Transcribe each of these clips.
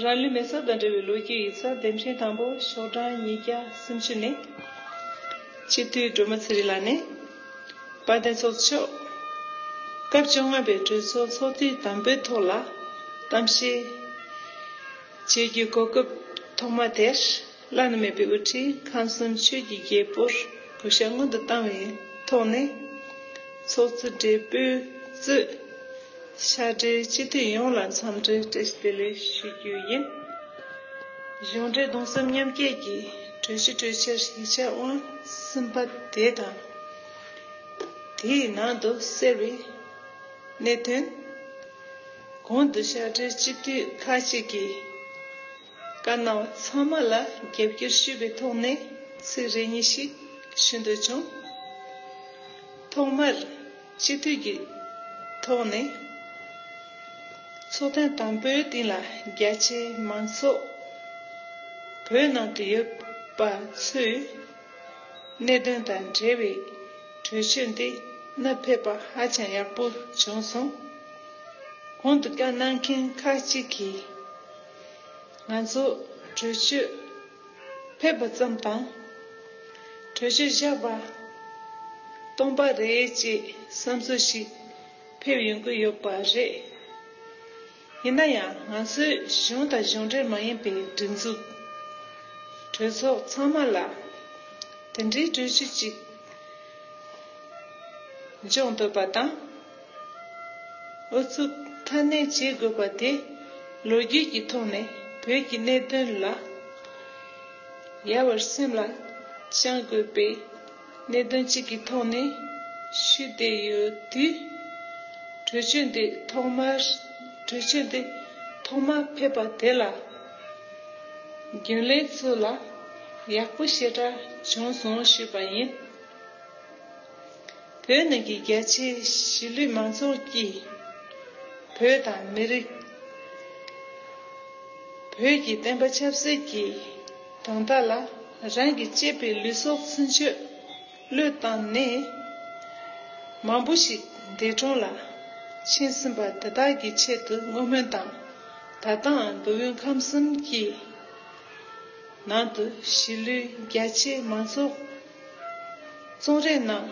རང་ལུས་མེ་སོར་དང་འབྲེལ་བའི་ལོ་རྒྱུས་ཡིག་ཚགས་འདེམས་ཤིང་དང་པོ་ཤོག་གྲངས་ཉིས་བརྒྱ་སུམ་བཅུ་ནི། སྤྱི་འཐུས་སྒྲོལ་མ་ཚེ་རིང་ལགས་ནས། དཔལ་ལྡན་ཚོགས་མཆོག་སྐབས་བཅོ་ལྔ་པའི་གྲོས་ཚོགས་ཚོགས་དུས་དང་པོའི་ཐོག་ལ་གཏམ་བཤད་བྱེད་རྒྱུའི་གོ་སྐབས་ཐོག་མ་དེར། བླ་ན་མེད་པའི་དབུ་ཁྲིད་ཁམས་གསུམ་ཆོས་ཀྱི་རྒྱལ་པོར་གུས་ཞབས་སྔོན་དུ་བཏང་བའི་ཐོག་ནས། ཚོགས་གཙོ་སྦྲེལ་པོས་གཙོས། ཤ་འབྲེལ་སྤྱི་འཐུས་ཡོངས་ལ་འཚམས་འདྲི་བཀྲ་ཤིས་བདེ་ལེགས་ཞུ་རྒྱུ་ཡིན། གཞུང་འབྲེལ་གདུང་སེམས་མཉམ་སྐྱེད་ཀྱི་གྲོས་གཞི་གྲོས་འཆར་ཡིག་ཆ་དབང་གསུམ་པ་དེ་དང། དེའི་ནང་དུ་གསལ་བའི་གནད་དོན། གོང་དུ་ཤ་འབྲེལ་སྤྱི་འཐུས་ཁག་ཅིག་གིས། བཀའ་གནང་བ་ཚང་མ་ལ་རྒྱབ་སྐྱོར་ཞུས་པའི་ཐོག་ནས་ཚིག་རེ་གཉིས་ཤིག་ཞུ་འདོད་བྱུང། ཐོག་མར་སྤྱི་འཐུས་ཀྱི་ཐོག་ནས་ཚོགས་ཐེངས་དང་པོའི་སྟེང་ལ་རྒྱ་ཆེའི་མང་ཚོགས་བོད་ནང་དུ་ཡོད་པ་ཚོས་གནད་དོན་དང་འབྲེལ་བའི་གྲོས་ཆོད་འདི་གནད་ཕེབས་པ་ཧ་ཅང་ཡག་པོ་བྱུང་སོང། གོང་དུ་བཀའ་གནང་མཁན་ཁག་ཅིག་གིས། ང་ཚོ་གྲོས་ཆོད་ཕེབས་པ་ཙམ་དང། གྲོས་ཆོད་བཞག་པ་སྟོང་པ་རེད་ཅེས་བསམ་ཚུལ་ཞིག་ཕེབས་ཡོང་གི་ཡོད་པ་རེད། ཡིན་ན་ཡང་ང་ཚོའི་གཞུང་དང་གཞུང་འབྲེལ་མ་ཡིན་པའི་སྒྲིག་འཛུགས་གྲོས་ཚོགས་ཚང་མ་ལ་དེ་འདྲའི་གྲོས་ཆོད་ཅིག་འཇོག་འདོད་པ་དང། ཨུ་ཚུགས་ཁ་སྣོན་བྱེད་དགོས་པ་དེ་ལོ་རྒྱུས་ཀྱི་ཐོག་ནས་བོད་ཀྱི་གནད་དོན་ལ་ཡལ་བར་སེམས་ལ་བཅངས་དགོས་པའི་གནད་དོན་གཅིག་གི་ཐོག་ནས་ཞུས་བསྡད་ཡོད་དུས། གྲོས་ཆོད་འདི་ཐོག་མར་གྲོས་ཆོད་འདི་ཐོག་མ་ཕེབས་པ་དེ་ལ་རྒྱུན་ལས་ཚོ་ལ་ཡག་པོ་ཞེ་དྲག་བྱུང་སོང་ཞུས་པ་ཡིན། བོད་ནང་གི་རྒྱ་ཆེའི་གཞིས་ལུས་མང་ཚོགས་ཀྱིས་བོད་དང་མི་རིགས། བོད་ཀྱི་བསྟན་པ་ཆབ་སྲིད་ཀྱི་དོན་དག་ལ་རང་གི་གཅེས་པའི་ལུས་སྲོག་ཚུན་ཆོད་བློས་བཏང་ནས་མང་པོ་ཞིག་འདས་གྲོངས་ལ་ཕྱིན་ཟིན་པ་དེ་དག་གི་ཆེད་དུ་བསྔོ་སྨོན་དང་ད་ལྟའང་མདོ་དབུས་ཁམས་གསུམ་གྱི་ནང་དུ་གཞིས་ལུས་རྒྱ་ཆེའི་མང་ཚོགས། རྩོམ་རིག་སྣང་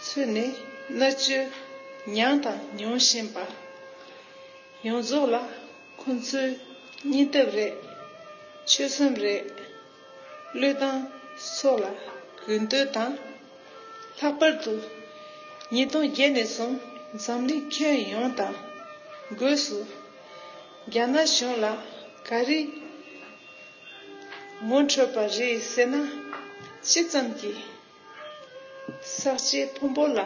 ཚུལ་ནི་གནའ་དཔྱོད་མྱངས་དང་མྱོང་བཞིན་པ་ཡོངས་རྫོགས་ལ་ཁོ་ཚོའི་སྙིང་སྟོབས་རེད། ཆོད་སེམས་རེད། བློས་བཏང་སོགས་ལ་གུས་འདུད་དང། ལྷག་པར་དུ་ཉིས་སྟོང་བརྒྱད་ནས་བཟུང་འཛམ་གླིང་ཁྱོན་ཡོངས་དང་སྒོས་སུ་རྒྱ་ནག་གཞུང་ལ་ག་རེ་ངོ་འཕྲོད་པ་རེད་ཟེར་ན་ཅི་ཙམ་གྱིས་ཟག་བཅས་ཕུང་པོ་ལ་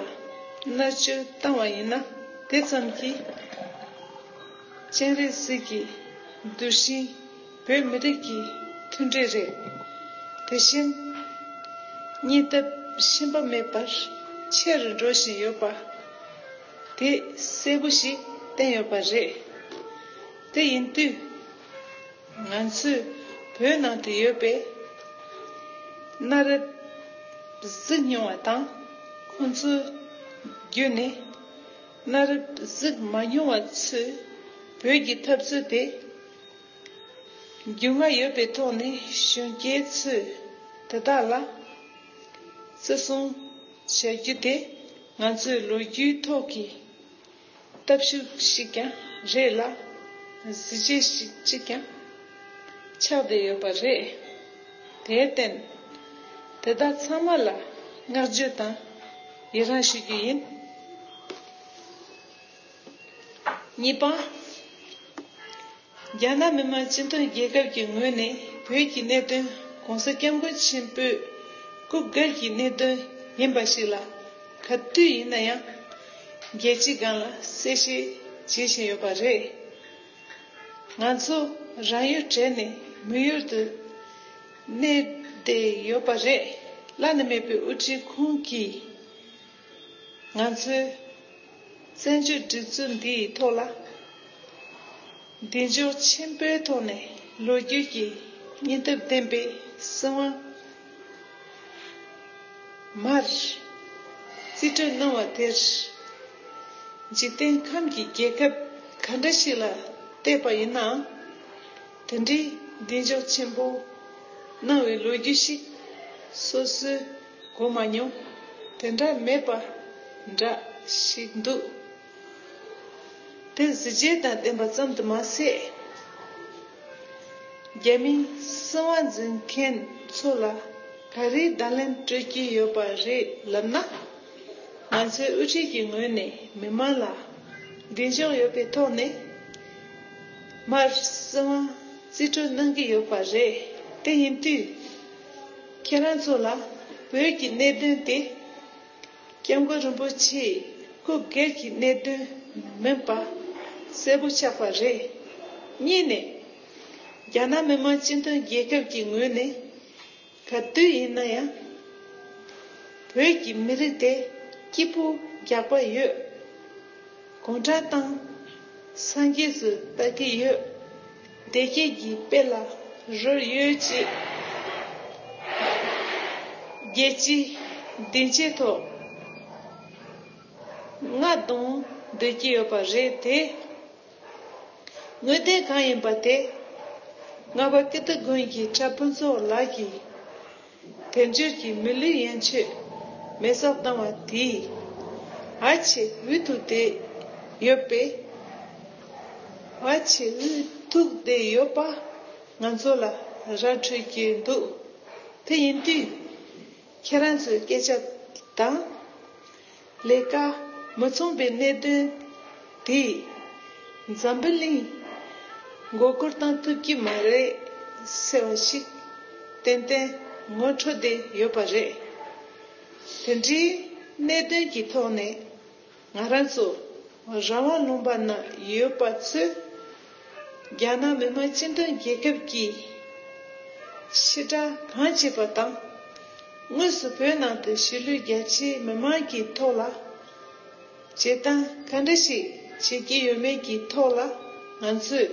མནར་གཅོད་བཏང་བ་ཡིན་ན་དེ་ཙམ་གྱིས་སྤྱན་རས་གཟིགས་ཀྱི་གདུལ་ཞིང་བོད་མི་རིགས་ཀྱི་མཐུན་སྒྲིལ་རེད། དེ་བཞིན་གཉིད་སྟབས་ཞེན་པ་མེད་པར་ཆེ་རུ་འགྲོ་བཞིན་ཡོད་པ་དེ་གསལ་པོ་ཞིག་བསྟན་ཡོད་པ་རེད། དེ་ཡིན་དུས། ང་ཚོས་བོད་ནང་དུ་ཡོད་པའི་གནའ་རབས་གཟུགས་མྱོང་བ་དང་ཁོང་ཚོའི་བརྒྱུད་ནས་གནའ་རབས་གཟུགས་མ་མྱོང་བ་ཚོས་བོད་ཀྱི་འཐབ་རྩོད་དེ་རྒྱུས་མངའ་ཡོད་པའི་ཐོག་ནས་གཞོན་སྐྱེས་ཚོས་དེ་དག་ལ་བརྩི་སྲུང་བྱ་རྒྱུ་དེ་ང་ཚོའི་ལོ་རྒྱུས་ཐོག་གི། སྟབས་ཤུགས་ཤིག་ཀྱང་རེད་ལ། གཟི་བརྗིད་ཞིག་ཅིག་ཀྱང་ཆགས་བསྡད་ཡོད་པ་རེད། དེར་བརྟེན། དེ་དག་ཚང་མ་ལ་བསྔགས་བརྗོད་དང་ཡི་རངས་ཞུ་རྒྱུ་ཡིན། གཉིས་པ། རྒྱ་ནག་མི་དམངས་སྤྱི་མཐུན་རྒྱལ་ཁབ་ཀྱི་ངོས་ནས་བོད་ཀྱི་གནད་དོན ྋགོང་ས ྋསྐྱབས་མགོན་ཆེན་པོས་སྐུ་སྒེར་གྱི་གནད་དོན་ཡིན་པ་ཞིག་ལ་ག་དུས་ཡིན་ན་ཡང་རྒྱལ་སྤྱི་སྒང་ལ་གསལ་བཤད་བྱེད་བཞིན་ཡོད་པ་རེད། ང་ཚོ་རང་ཡུལ་བྲལ་ནས་མི་ཡུལ་དུ་གནས་བསྡད་ཡོད་པ་རེད། བླ་ན་མེད་པའི་དབུ་ཁྲིད་ཁོང་གིས། ང་ཚོས་བཙན་བྱོལ་སྒྲིག་འཛུགས་འདི་ཡི་ཐོག་ལ་གདེང་འཇོག་ཆེན་པོའི་ཐོག་ནས་ལོ་རྒྱུས་ཀྱི་སྙིང་སྟོབས་ལྡན་པའི་སྲིད་དབང་མར་རྩིས་སྤྲོད་གནང་བ་དེར་འཇིག་རྟེན་ཁམས་ཀྱི་རྒྱལ་ཁབ་ག་འདྲ་ཞིག་ལ་བལྟས་པ་ཡིན་ནའང་དེ་འདྲའི་གདེང་འཇོག་ཆེན་པོ་གནང་བའི་ལོ་རྒྱུས་ཤིག་སོ་སོའི་གོ་མ་མྱོང། དེ་འདྲ་མེད་པ་འདྲ་ཞིག་འདུག། དེ་གཟི་བརྗིད་དང་ལྡན་པ་ཙམ་དུ་མ་ཟད། རྒྱ་མིའི་སྲིད་དབང་འཛིན་མཁན་ཚོ་ལ་ག་རེའི་བརྡ་ལན་སྤྲོད་ཀྱི་ཡོད་པ་རེད་ལབ་ན། ང་ཚོའི་དབུ་ཁྲིད་ཀྱི་ངོས་ནས་མི་མང་ལ་གདེང་འཇོག་ཡོད་པའི་ཐོག་ནས། མར་སྲིད་དབང་རྩིས་སྤྲོད་གནང་གི་ཡོད་པ་རེད། དེ་ཡིན་དུས། ཁྱེད་རང་ཚོ་ལ་བོད་ཀྱི་གནད་དོན་དེ་སྐྱབས་མགོན་རིན་པོ་ཆེའི་སྐུ་སྒེར་གྱི་གནད་དོན་མིན་པ་གསལ་པོ་ཆགས་པ་རེད། གཉིས་ནས། རྒྱ་ནག་མི་དམངས་སྤྱི་མཐུན་རྒྱལ་ཁབ་ཀྱི་ངོས་ནས་ག་དུས་ཡིན་ན་ཡང་བོད་ཀྱི་མི་རིགས་དེ་སྐྱིད་པོ་རྒྱག་པ་ཡོད། དགོངས་དྲག་དང་སངས་རྒྱས་སུ་ལྟ་གི་ཡོད། བདེ་སྐྱིད་ཀྱི་དཔལ་ལ་རོལ་ཡོད་ཅེས་རྒྱལ་སྤྱིའི་སྡིངས་ཆའི་ཐོག་རྔ་རྡུང་སྡོད་ཀྱི་ཡོད་པ་རེད་དེ། དངོས་བདེན་གང་ཡིན་པ་དེ་རྔ་པ་ཀིརྟི་དགོན་གྱི་གྲྭ་ཕུན་ཚོགས་ལགས་ཀྱིས་དེ་འབྱོར་གྱི་མི་ལུས་ཡན་ཆོད་མེ་སོགས་བཏང་བ་དེའི་བར་ཆད་འུ་ཐུག་དེ་ཡོད་པས། བར་ཆད་འུ་ཐུག་དེ་ཡོད་པ་ང་ཚོ་ལ་ར་འཕྲོད་ཀྱི་འདུག་དེ་ཡིན་དུས་ཁྱེད་རང་ཚོའི་སྐད་ཆ་དང། ལས་ཀ་མི་མཚུངས་པའི་གནད་དོན་དེས་འཛམ་བུ་གླིང་མགོ་སྒུར་བཏང་ཐུབ་ཀྱི་མ་རེད་ཟེར་བ་ཞིག་ཏན་ཏན་ངོ་འཕྲོད་དེ་ཡོད་པ་རེད། དེ་འདྲའི་གནད་དོན་གྱི་ཐོག་ནས་ང་རང་ཚོ་རང་དབང་ལུང་པ་ན་ཡོད་པ་ཚོས་རྒྱ་ནག་མི་དམངས་སྤྱི་མཐུན་རྒྱལ་ཁབ་ཀྱིས་ཕྱི་དྲག་གང་བྱེད་པ་དང། དངོས་སུ་བོད་ནང་དུ་གཞིས་ལུས་རྒྱ་ཆེའི་མི་དམངས་ཀྱི་ཐོག་ལ་བྱེད་སྟངས་ག་འདྲ་ཞིག་བྱེད་ཀྱི་ཡོད་མེད་ཀྱི་ཐོག་ལ་ང་ཚོས་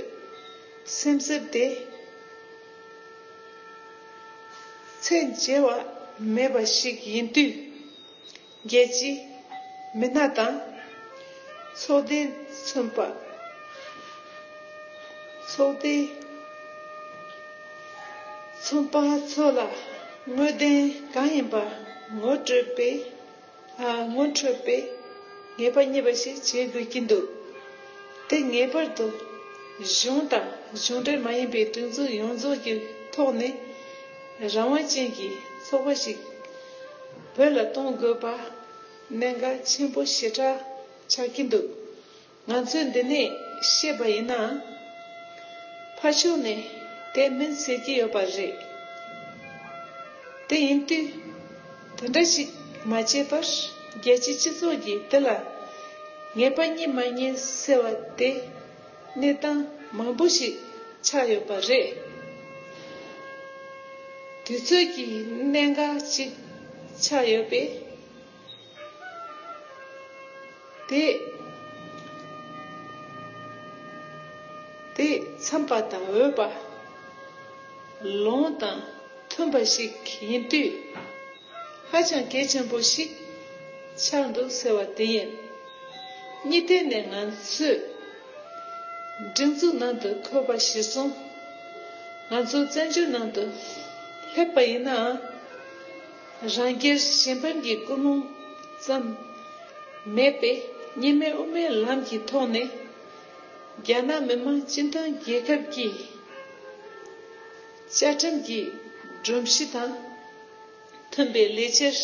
སེམས་གསོ་དེ་ཚད་འཇལ་བ་མེད་པ་ཞིག་ཡིན་དུས། རྒྱལ་གྱི་མི་སྣ་དང་ཚོགས་སྡེ་མཚོན་པ། ཚོགས་སྡེ་མཚོན་པ་ཚོ་ལ་དངོས་བདེན་གང་ཡིན་པ་ངོ་སྤྲོད་པའི་ངོ་འཕྲོད་པའི་ངེས་པ་རྙེད་པ་ཞིག་བྱེད་དགོས་ཀྱི་འདུག་དེ་ངེས་པར་དུ་གཞུང་དང་གཞུང་འབྲེལ་མ་ཡིན་པའི་སྒྲིག་འཛུགས་ཡོངས་རྫོགས་ཀྱི་ཐོག་ནས་རང་དབང་ཅན་གྱི་ཚོགས་པ་ཞིག་བོད་ལ་གཏོང་དགོས་པ་གནད་འགག་ཆེན་པོ་ཞེ་དྲག་ཆགས་ཀྱི་འདུག་ང་ཚོས་འདི་ནས་ཤེས་པ་ཡིན་ན། ཕར་ཕྱོགས་ནས་དེ་མིན་ཟེར་གྱི་ཡོད་པ་རེད། དེ་ཡིན་དུས་དེ་འདྲ་ཞིག་མ་བྱས་པར་རྒྱལ་སྤྱིའི་སྤྱི་ཚོགས་ཀྱིས་དེ་ལ་ངེས་པ་རྙེད་མ་རྙེད་ཟེར་བ་དེ། གནས་སྟངས་མང་པོ་ཞིག་ཆགས་ཡོད་པ་རེད། དུས་ཚོད་ཀྱི་གནད་འགག་ཅིག་ཆགས་ཡོད་པས། དེ་འཚམས་པ་དང་འོས་པ། ལོང་དང་མཐུན་པ་ཞིག་ཡིན་དུས། ཧ་ཅང་གལ་ཆེན་པོ་ཞིག་ཆགས་འདུག་ཟེར་བ་དེ་ཡིན། གཉིས་ཐད་ནས་ང་ཚོས་སྒྲིག་འཛུགས་ནང་དུ་འཁོད་པ་གཞིར་བཟུང་ང་ཚོ་བཙན་བྱོལ་ནང་དུ་སླེབས་པ་ཡིན་ནའང། རང་རྒྱལ་གཞན་ཕན་གྱི་ཀུན་སློང་ཙམ་མེད་པས་གཉིས་སྨན་དབུ་མའི་ལམ་གྱི་ཐོག་ནས་རྒྱ་ནག་མི་དམངས་སྤྱི་མཐུན་རྒྱལ་ཁབ་ཀྱི་བཅའ་ཁྲིམས་ཀྱི་སྒྲོམ་གཞི་དང་མཐུན་པའི་ལས་འཆར་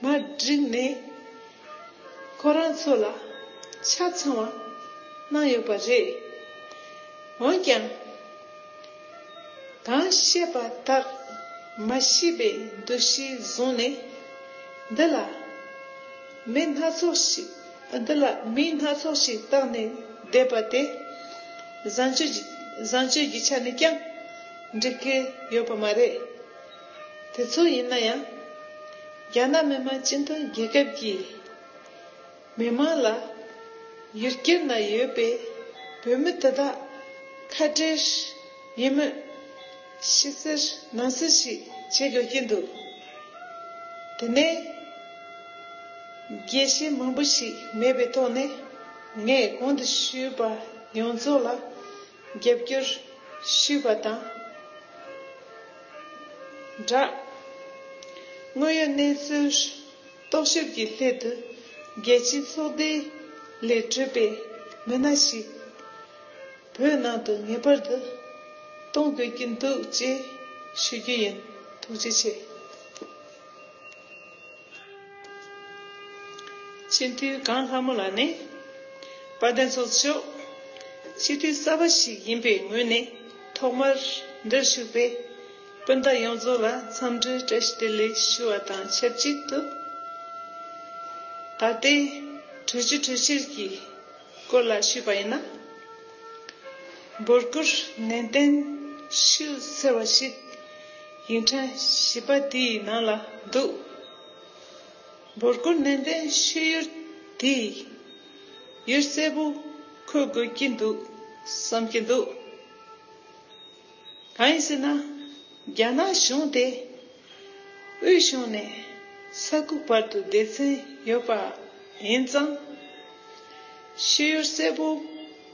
མ་བསྒྲིགས་ནས་ཁོ་རང་ཚོ་ལ་ཆ་ཚང་བ་གནང་ཡོད་པ་རེད། འོན་ཀྱང། གང་བཤད་པ་དག་མ་ཤེས་པའི་འདུ་ཤེས་བཟུང་ནས་འདི་ལ་མི་སྣ་ཚོགས་ཤིག་འདི་ལ་མིང་སྣ་ཚོགས་ཤིག་བཏགས་ནས་བསྡད་པ་དེ། བཟང་སྤྱོད་ཀྱི་བཟང་སྤྱོད་ཀྱི་ཆ་ནས་ཀྱང་འགྲིག་གི་ཡོད་པ་མ་རེད། དེ་ཚོ་ཡིན་ན་ཡང། རྒྱ་ནག་མི་དམངས་སྤྱི་མཐུན་རྒྱལ་ཁབ་ཀྱི་མི་དམངས་ལ་ཡུལ་སྐད་ན་ཡོད་པའི་བོད་མི་དེ་དག་ཁ་བྲལ། ཡིན་མོད། ཕྱི་གསལ་ནང་གསལ་ཞིག་བྱེད་དགོས་ཀྱི་འདུག་དེ་ནས། རྒྱས་བཤད་མང་པོ་ཞིག་མེད་པའི་ཐོག་ནས། ངས་གོང་དུ་ཞུས་པ་ཡོངས་རྫོགས་ལ་རྒྱབ་སྐྱོར་ཞུས་པ་དང་སྦྲགས། དངོས་ཡོད་གནས་ཚུལ་རྟོག་ཞིབ་ཀྱི་སླད་དུ་རྒྱལ་སྤྱིའི་ཚོགས་སྡེ་ལས་གྲུབ་པའི་མི་སྣ་ཞིག། བོད་ནང་དུ་ངེས་པར་དུ་གཏོང་དགོས་ཀྱི་འདུག་ཅེས་ཞུ་རྒྱུ་ཡིན་ཐུགས་རྗེ་ཆེ། སྤྱི་འཐུས་གངས་ལྷ་མོ་ལགས་ནི་དཔལ་ལྡན་ཚོགས་མཆོག་སྤྱི་འཐུས་གསར་པ་ཞིག་ཡིན་པའི་ངོས་ནས་ཐོག་མར་འདིར་ཞུགས་པའི་སྤུན་ཟླ་ཡོངས་རྫོགས་ལ་འཚམས་འདྲི་བཀྲ་ཤིས་བདེ་ལེགས་ཞུ་བ་དང་ཆབས་ཅིག་ཏུ། ད་ལྟའི་གྲོས་ཆོད་གྲོས་འཆར་གྱི། སྐོར་ལ་ཞུས་པ་ཡིན་ན། འབོད་སྐུལ་ནན་གཏན་ཞུས་ཟེར་བ་ཞིག་ཡིག་འཕྲིན་བཞི་པ་དེའི་ནང་ལ་འདུག་འབོད་སྐུལ་ནན་གཏན་ཞུས་ཡུལ་དེའི་ཡུལ་གསལ་པོ་འཁོད་དགོས་ཀྱི་འདུག་བསམ་གྱི་འདུག་གང་ཡིན་ཟེར་ན། རྒྱ་ནག་གཞུང་དེ་དབུས་གཞུང་ནས་ས་ཁུལ་བར་དུ་སྡེ་ཚན་ཡོད་པ་ཡིན་ཙང། ཤེས་ཡོན་གསལ་པོ་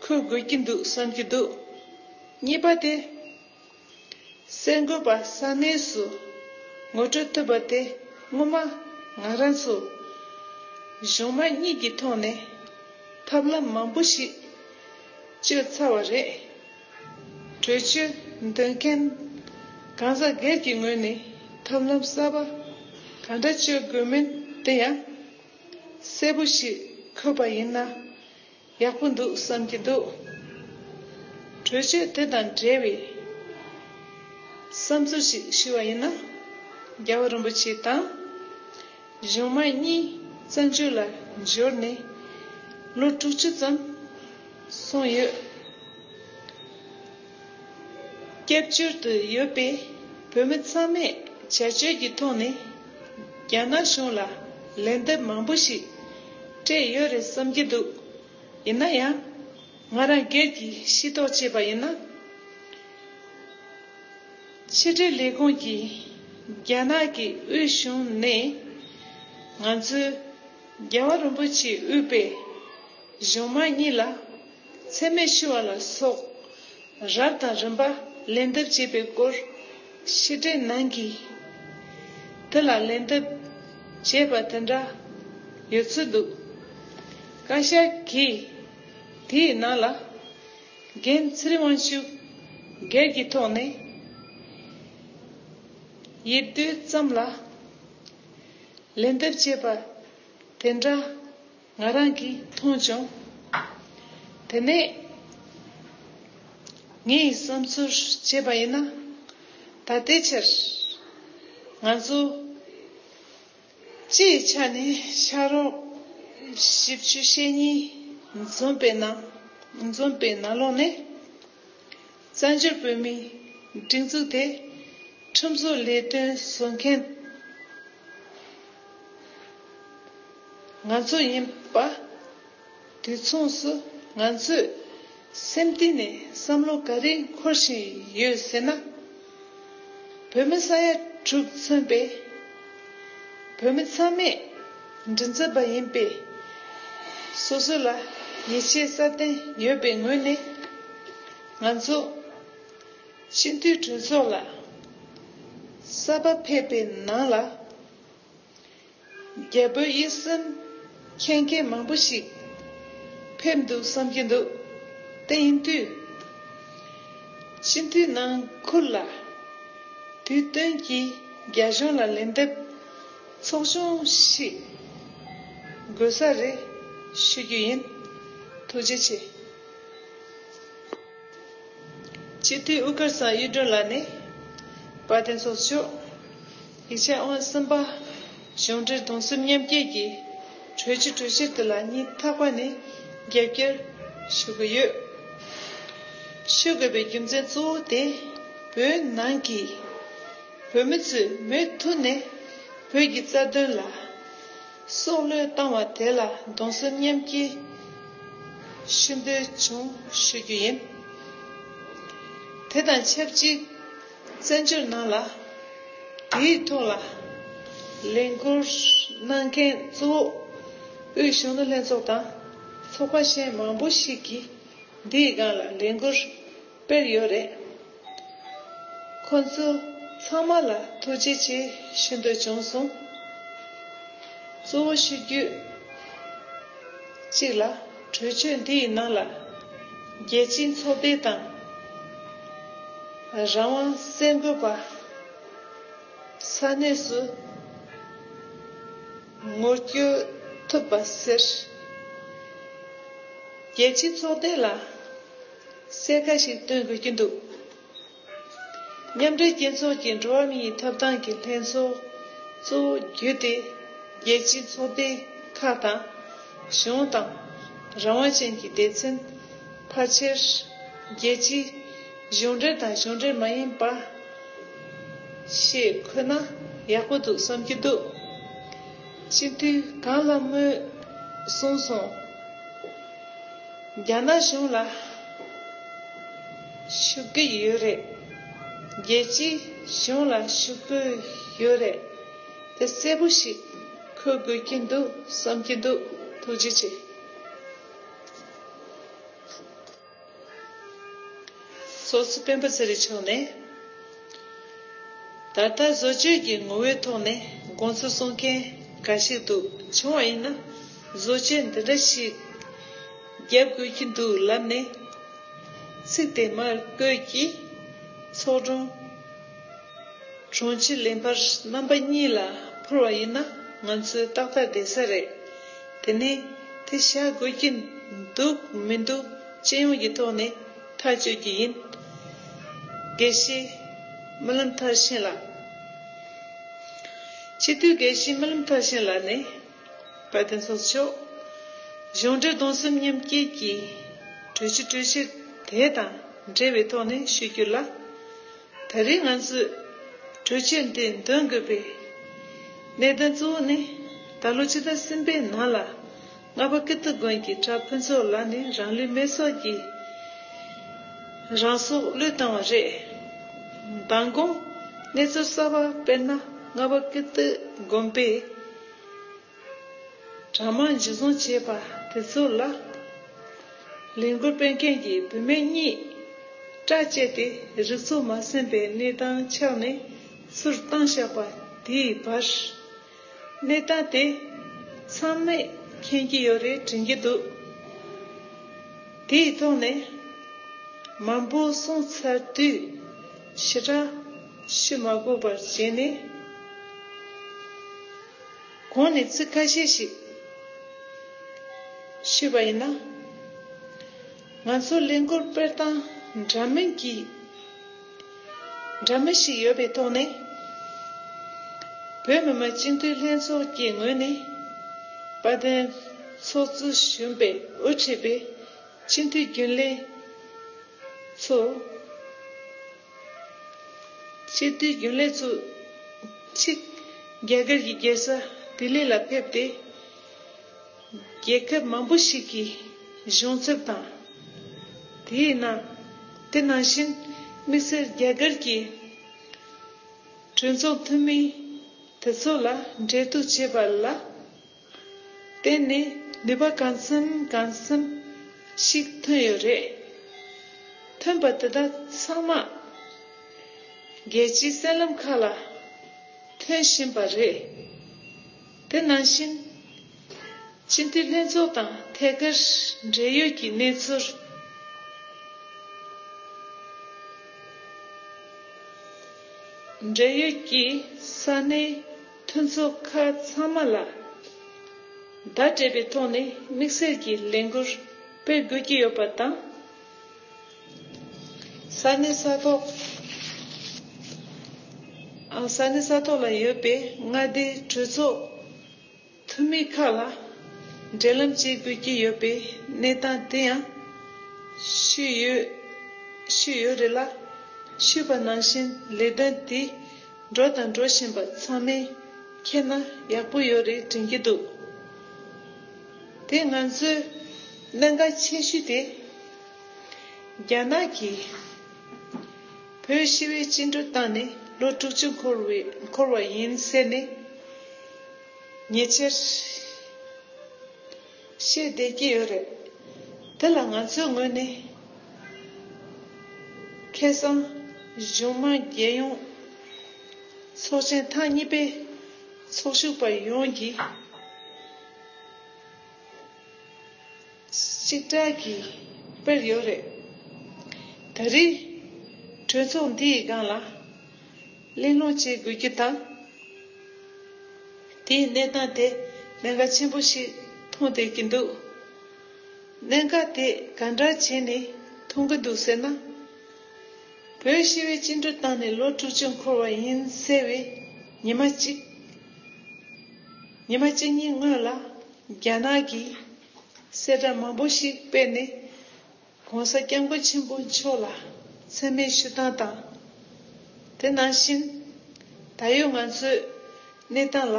འཁུར་དགོས་ཀྱི་འདུག་བསམ་གྱི་འདུག་གཉིས་པ་དེ། གསར་འགོད་པ་ས་གནས་སུ་ངོ་སྤྲོད་ཐུབ་པ་དེ་སྔོན་མ་ང་རང་ཚོ་གཞུང་མང་གཉིས་ཀྱི་ཐོག་ནས་ཐབས་ལམ་མང་པོ་ཞིག་སྤྱོད་ཚར་བ་རེད། གྲོས་ཆོད་འདོན་མཁན་གང་ཟག་སྒེར་གྱི་ངོས་ནས་ཐབས་ལམ་གསར་པ་གང་འདྲ་སྤྱོད་དགོས་མིན་དེ་ཡང་གསལ་པོ་ཞིག་འཁོད་པ་ཡིན་ན་ཡག་པོ་འདུག་བསམ་གྱི་འདུག་གྲོས་ཆོད་དེ་དང་འབྲེལ་བའི་བསམ་ཚུལ་ཞིག་ཞུ་བ་ཡིན་ན་རྒྱལ་བ་རིན་པོ་ཆེ་དང། གཞུང་མ་གཉིས་བཙན་བྱོལ་ལ་འབྱོར་ནས་ལོ་དྲུག་ཅུ་ཙམ་སོང་ཡོད། སྐྱབས་བཅོལ་དུ་ཡོད་པའི་བོད་མི་ཚང་མས་བྱ་སྤྱོད་ཀྱི་ཐོག་ནས་རྒྱ་ནག་གཞུང་ལ་ལན་འདེབས་མང་པོ་ཞིག་སྤྲད་ཡོད་རེད་བསམ་གྱི་འདུག་ཡིན་ན་ཡང་ང་རང་སྒེར་གྱིས་ཤེས་རྟོགས་བྱས་པ་ཡིན་ན། ཕྱི་དྲིལ་ལས་ཁུངས་ཀྱིས་རྒྱ་ནག་གི་དབུས་གཞུང་ནས་ང་ཚོས་རྒྱལ་བ་རིན་པོ་ཆེའི་དབུས་པའི་གཞུང་མང་གཉིས་ལ་འཚེ་མེད་ཞུ་བ་ལ་སོགས་རབས་དང་རིམ་པ་ལན་འདེབས་བྱས་པའི་སྐོར་ཕྱི་དྲིལ་ནང་གི་དེ་ལ་ལན་འདེབས་བྱས་པ་དེ་འདྲ་ཡོད་ཚོད་འདུག་བཀའ་ཤག་གིས་དེའི་ནང་ལ། འགན་འཁྲི་དབང་ཤུགས་སྒེར་གྱི་ཐོག་ནས་ཡིད་རྟོན་ཙམ་ལ་ལན་འདེབས་བྱས་པ་དེ་འདྲ་ང་རང་གིས་མཐོང་བྱུང། དེ་ནས་ངས་བསམ་ཚུལ་བྱས་པ་ཡིན་ན། ད་ལྟའི་ཆར་ང་ཚོ། སྤྱིའི་ཆ་ནས་ཤར་རོང་བཞི་བཅུ་ཞེ་གཉིས་འཛོམས་པའི་ནང་འཛོམས་པའི་ནང་ལོགས་ནས། བཙན་བྱོལ་བོད་མིའི་སྒྲིག་འཛུགས་དེ་ཁྲིམས་བཟོ་ལས་དོན་བཟོ་མཁན་ང་ཚོ་ཡིན་པ། དུས་མཚུངས་སུ་ང་ཚོས་སེམས་གཏིང་ནས་བསམ་བློ་ག་རེ་འཁོར་བཞིན་ཡོད་ཟེར་ན། བོད་མི་ས་ཡ་དྲུག་མཚོན་པའི་བོད་མི་ཚང་མས་མགྲིན་ཚབ་པ་ཡིན་པས། སོ་སོ་ལ་ཡིད་ཆེས་སྲ་བརྟན་ཡོད་པའི་ངོས་ནས་ང་ཚོ་སྤྱི་འཐུས་གྲོས་ཚོགས་ལ་གསར་པ་ཕེབས་པའི་ནང་ལ། རྒྱལ་པོའི་ཡིད་སེམས་མཁྱེན་མཁན་མང་པོ་ཞིག་ཕེབས་འདུག་བསམ་གྱི་འདུག་དེ་ཡིན་དུས། སྤྱི་འཐུས་ནང་ཁུལ་ལ་དུས་སྟོན་གྱིས་རྒྱ་གཞུང་ལ་ལན་འདེབས་ཚོགས་ཆུང་ཞིག་དགོས་ས་རེད་ཞུ་རྒྱུ་ཡིན། ཐུགས་རྗེ་ཆེ། སྤྱི་འཐུས་དབུ་དཀར་ཚང་གཡུ་སྒྲོན་ལགས་ནས་བཀའ་བསྟན་ཚོགས་ཆོག། ཡིག་ཆ་དབང་གསུམ་པ། གཞུང་འབྲེལ་གདུང་སེམས་མཉམ་སྐྱེད་ཀྱི་གྲོས་ཆོད་གྲོས་གཞིར་འདི་ལ་གཉིས་ཐག་པ་ནས་རྒྱབ་སྐྱོར་ཞུ་གི་ཡོད། ཞུ་དགོས་པའི་རྒྱུ་མཚན་གཙོ་བོ་དེ་བོད་ནང་གི་བོད་མི་ཚོས་མུ་མཐུད་ནས་བོད་ཀྱི་རྩ་དོན་ལ་སྲོག་བློས་བཏང་བ་དེ་ལ་གདུང་སེམས་མཉམ་སྐྱེད་ཞུ་འདོད་བྱུང་ཞུ་རྒྱུ་ཡིན། དེ་དང་ཆབས་ཅིག། བཙན་བྱོལ་ནང་ལ་དེའི་ཐོག་ལ་ལས་འཁུར་གནང་མཁན་གཙོ་བོ་དབུས་གཞུང་ནུ་ལྷན་ཚོགས་དང་ཚོགས་པ་གཞན་མང་པོ་ཞིག་གིས་འདིའི་སྒང་ལ་ལས་འཁུར་སྤེལ་ཡོད་རེད། ཁོང་ཚོ་ཚང་མ་ལ་ཐུགས་རྗེ་ཆེ་ཞུ་འདོད་བྱུང་སོང། གཙོ་བོ་ཞུ་རྒྱུ་གཅིག་ལ། གྲོས་ཆོད་འདི་ཡི་ནང་ལ་རྒྱལ་སྤྱིའི་ཚོགས་སྡེ་དང། རང་དབང་བཙན་རྒོལ་པ། ས་གནས་སུ་ངོ་བསྐྱོད་ཐུབ་པ་ཟེར། རྒྱལ་སྤྱིའི་ཚོགས་སྡེ་ལ་གསལ་ཁ་ཞིག་སྟོན་དགོས་ཀྱི་འདུག་མཉམ་འབྲེལ་རྒྱལ་ཚོགས་ཀྱི་འགྲོ་བ་མིའི་ཐོབ་ཐང་གི་ལྷན་ཚོགས་གཙོ་བོ་བརྒྱུད་དེ་རྒྱལ་སྤྱིའི་ཚོགས་སྡེ་ཁག་དང། གཞུང་དང། རང་དབང་ཅན་གྱི་སྡེ་ཚན། ཕལ་ཆེར། རྒྱལ་སྤྱིའི་གཞུང་འབྲེལ་དང་གཞུང་འབྲེལ་མ་ཡིན་པ། ཞེས་འཁོད་ན་ཡག་པོ་འདུག་བསམ་གྱི་འདུག་སྤྱི་འཐུས་གངས་ལྷ་མོས་གསུངས་སོང། རྒྱ་ནག་གཞུང་ལ། ཞུ་གི་ཡོད་རེད། རྒྱལ་སྤྱིའི་གཞུང་ལ་ཞུ་གི་ཡོད་རེད། དེ་གསལ་པོ་ཞིག་འཁོད་དགོས་ཀྱི་འདུག་བསམ་གྱི་འདུག་ཐུགས་རྗེ་ཆེ། སོ་སོའི་སྤེན་པ་ཚེ་རིང་མཆོག་ནས་ད་ལྟ་བཟོ་བཅོས་ཀྱི་ངོ་བོའི་ཐོག་ནས་དགོངས་ཚུལ་གསུང་མཁན་འགའ་ཞིག་འདུག་བྱུང་བ་ཡིན་ན་བཟོ་བཅོས་འདི་འདྲ་ཞིག་རྒྱབ་བསྐུལ་གྱི་འདུག་ལབ་ནས། ཚིག་དེ་མར་བཀོད་ཀྱིས། ཚོགས་དྲུང། དྲུང་ཆེ་ལེན་པར་རྣམ་པ་གཉིས་ལ་འཕུར་བ་ཡིན་ན་ང་ཚོའི་ཏག་ཏག་བསྡད་ས་རེད། དེ་ནས་དེ་བཞག་དགོས་ཀྱི་འདུག་མི་འདུག་སྤྱི་ཡོངས་ཀྱི་ཐོག་ནས་ཐག་གཅོད་ཀྱི་ཡིན། དགེ་བཤེས་རྨི་ལམ་མཐར་ཕྱིན་ལགས། སྤྱི་འཐུས་དགེ་བཤེས་རྨི་ལམ་མཐར་ཕྱིན་ལགས་ནས། དཔལ་ལྡན་སོགས་མཆོག། གཞུང་འགྲེལ་གདུང་སེམས་མཉམ་བསྐྱེད་ཀྱིས། གྲོལ་གྱི་གྲོལ་ཕྱིར་དེ་དང་འབྲེལ་བའི་ཐོག་ནས་ཞུས་རྒྱུ་ལ། ད་རེས་ང་ཚོས་གྲོལ་ཕྱིར་འདི་འདོན་དགོས་པའི་གནད་དོན་གཙོ་བོ་ནི། ད་ལོ་ཕྱི་ཟླ་གསུམ་པའི་ནང་ལ་རྔ་པ་ཀིརྟི་དགོན་གྱི་གྲྭ་ཕུན་ཚོགས་ལགས་ནས་རང་ལུས་མེར་སྲེག་གིས་རང་སྲོག་བློས་བཏང་བ་རེད། མདང་དགོང་གནས་ཚུལ་གསར་བ་དཔེར་ན་རྔ་པ་ཀིརྟི་དགོན་པའི། དྲ་དམངས་འཇུ་བཟུང་བྱས་པ་དེ་ཚོ་ལ། ལས་འགུལ་སྤེལ་མཁན་གྱི་བུད་མེད་གཉིས། སྐྲ་བཅད་དེ་རིག་ཚོགས་མ་ཟིན་པའི་གནས་སྟངས་ཆགས་ནས་ཚུར་བཏང་བཞག་པ་དེའི་བར། གནས་སྟངས་དེ་མཚམས་མེད་མཁྱེན་གྱི་ཡོད་རེད་དྲན་གྱི་འདུག་དེའི་ཐོག་ནས། མང་པོ་གསུངས་ཚར་དུས། ཕྱི་དྲ། ཕྱི་མ་དགོད་པར་བྱས་ནས། གོང་ནས་ཚིག་ཁ་ཤས་ཤིག་ཤེས་པ་ཡིན་ན། ང་ཚོ་གླིང་སྐོར་དཔེར་བཏང་འདྲ་མིན་གྱི་འདྲ་མིན་ཞིག་ཡོད་པའི་ཐོག་ནས། བོད་མི་མང་སྤྱི་འཐུས་ལྷན་ཚོགས་ཀྱི་ངོས་ནས་དཔལ་ལྡན་ཚོགས་གཙོ་གཞོན་པའི་དབུ་ཁྲིད་པའི་སྤྱི་འཐུས་རྒྱུན་ལས་ཚོ། སྤྱི་བདེའི་རྒྱུན་ལས་བཙུགས། གཅིག། རྒྱ་གར་གྱི་རྒྱལ་ས་ལྡི་ལི་ལ་ཕེབས་ཏེ། རྒྱལ་ཁབ་མང་པོ་ཞིག་གི་གཞུང་ཚབ་དང། དེའི་ནང་དེ་ནང་བཞིན་དམིགས་བསལ་རྒྱ་གར་གྱི་གྲོས་ཚོགས་འཐུས་མི་དེ་ཚོ་ལ་འབྲེལ་གཏུག་བྱས་པ་ལ། དེ་ནི་ནུས་པ་གང་འཚམ་གང་འཚམ་ཞིག་ཐོན་ཡོད་རེད། ཐོན་པ་དེ་དག་ཚང་མ་རྒྱལ་སྤྱིའི་གསེང་ལམ་ཁག་ལ་ཐོན་བཞིན་པ་རེད། དེ་ནང་བཞིན་སྤྱི་འཐུས་ལྷན་ཚོགས་དང་ཐད་ཀར་འབྲེལ་ཡོད་ཀྱི་གནས་ཚུལ། འབྲེལ་ཡོད་ཀྱི་ས་གནས་ཐུན་ཚོ་ཁ་ཚང་མ་ལ་བརྡ་སྤྲད་པའི་ཐོག་ནས་དམིགས་བསལ་གྱི་ལས་འགུལ་སྤེལ་དགོས་ཀྱི་ཡོད་པ་དང། ས་གནས་ས་ཐོག་ས་གནས་ས་ཐོག་ལ་ཡོད་པའི་མངའ་སྡེའི་གྲོས་ཚོགས་འཐུས་མི་ཁག་ལ་འབྲེལ་ལམ་བྱེད་དགོས་ཀྱི་ཡོད་པའི་གནས་སྟངས་དེ་ཡང་ཞུས་ཡོད་རེད་ལ། ཞུས་པ་ནང་བཞིན་ལས་དོན་དེ་འགྲོ་དང་འགྲོ་བཞིན་པ་ཚང་མས་མཁྱེན་ན་ཡག་པོ་ཡོད་རེད་དྲན་གྱི་འདུག་དེ་ང་ཚོའི་གནད་འགག་ཆེ་ཤོས་དེ། རྒྱ་ནག་གིས་བོད་ཞི་བའི་བཅིངས་འགྲོལ་བཏང་ནས་ལོ་དྲུག་ཅུ་འཁོར་བ་ཡིན་ཟེར་ནས་ཉེ་ཆར། བཤད་བསྡད་ཀྱི་ཡོད་རེད། དེ་ལ་ང་ཚོའི་ངོས་ནས། ཁེ་སང། གཞུང་དམངས་རྒྱལ་ཡོངས། ཚོགས་ཆེན་ཐང་གཉིས་པའི། ཚོགས་ཞུགས་པ་ཡོངས་ཀྱིས། གཅིག་སྒྲིལ་གྱིས་སྤེལ་ཡོད་རེད། ད་རེས། གྲོས་ཚོགས་འདིའི་སྒང་ལ། གླེང་སློང་བྱེད་དགོས་རྒྱུ་དང། དེའི་གནས་སྟངས་དེ་གནད་འགག་ཆེན་པོ་ཞིག་མཐོང་བསྡད་ཀྱི་འདུག་གནད་འགག་དེ་ག་འདྲ་བྱས་ནས་མཐོང་གི་འདུག་ཟེར་ན། བོད་ཞི་བས་བཅིངས་འགྲོལ་བཏང་ནས་ལོ་དྲུག་ཅུ་འཁོར་བ་ཡིན་གསལ་བའི་ཉི་མ་གཅིག་ཉི་མ་གཅིག་གཉིས་སྔོན་ལ་རྒྱ་ནག་གིས་གསལ་བསྒྲགས་མང་པོ་ཞིག་སྤེལ་ནས། ྋགོང་ས ྋསྐྱབས་མགོན་ཆེན་པོ་མཆོག་ལ་འཚེ་མེད་ཞུ་སྟངས་དང། དེ་ནང་བཞིན་ད་ཡོད་ང་ཚོའི་གནས་སྟངས་ལ་